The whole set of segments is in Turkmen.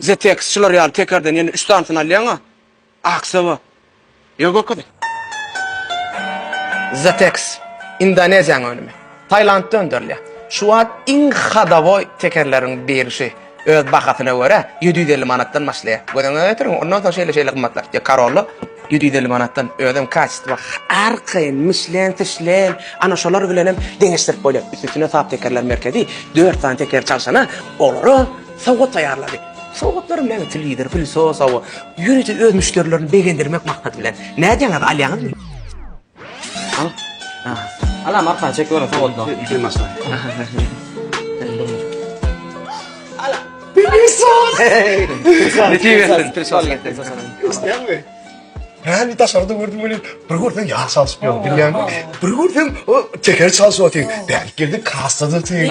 ZTX şular ýaly tekerden ýene üç sanysyny alýaňa aksaba ýa görkezýän. ZTX Indoneziýanyň önümi. Tailandda öndürilýär. Şu wagt iň hodowoý tekerleriň birisi öz bahasyna görä ýedi ýüz elli manatdan başlaýar. Göz öňüňe getiriň, ondan soň şeýle şeýle gymmatlar. Ýa Corolla ýedi ýüz elli manatdan özem kaçestwo arkaýyn Michelin Tişlen ana şolar bilenem deňeşdirip bolýar. Üstesine sap tekerler merkezi dört sany tekeri çalşana olara Sowgat taýýarlady. Sowgatlary meňzi lider, filsosowy, ýörite öz müşderilerini begendirmek maksady bilen. Nädýäňiz, alýaňyzmy? Al. Alam arkany çekip görüň sowgatla. Ýekeý maşgala. Isleýäňmi? Hä, indi daşarda gördüm welin, bir görseň ýag çalşyp ýör, bilýäňmi? Bir görseň, o teker çalşyp otyr. Bärik geldi, kassada otyr.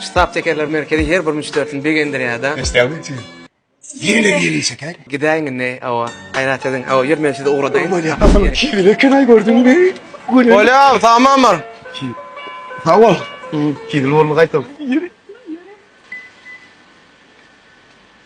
Ştab tekerler merkezi her bir müşderisini begendirýärda. Estağfurullah. Ýene-de ýene çeker. Gidäýiň indi awa. Gaýrat ediň. Awa ýör men sizi ugradaýyn. Bolýa. Asyl kibir ekenaý gördüňmi? Bolýa tamamyr. Sag bol. Kibir bolma gaýtam. Ýeri.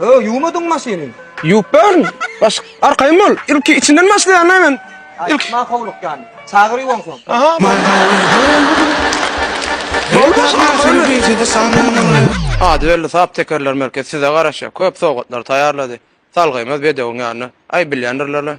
Öo ýuwmadyň maşyny. Ýuwup bärin. Baş arkaýyn bol. Ilki içinden başlaýan näme men. Ilki Aýtma howluk ýany. Çagyr ýuwansoň. Aha. Ady belli sap tekerler merkezi size garaşýar. Köp sowgatlar taýýarlady. Salgymyz bedewiň ýanyna. Aý bilýändirler-le.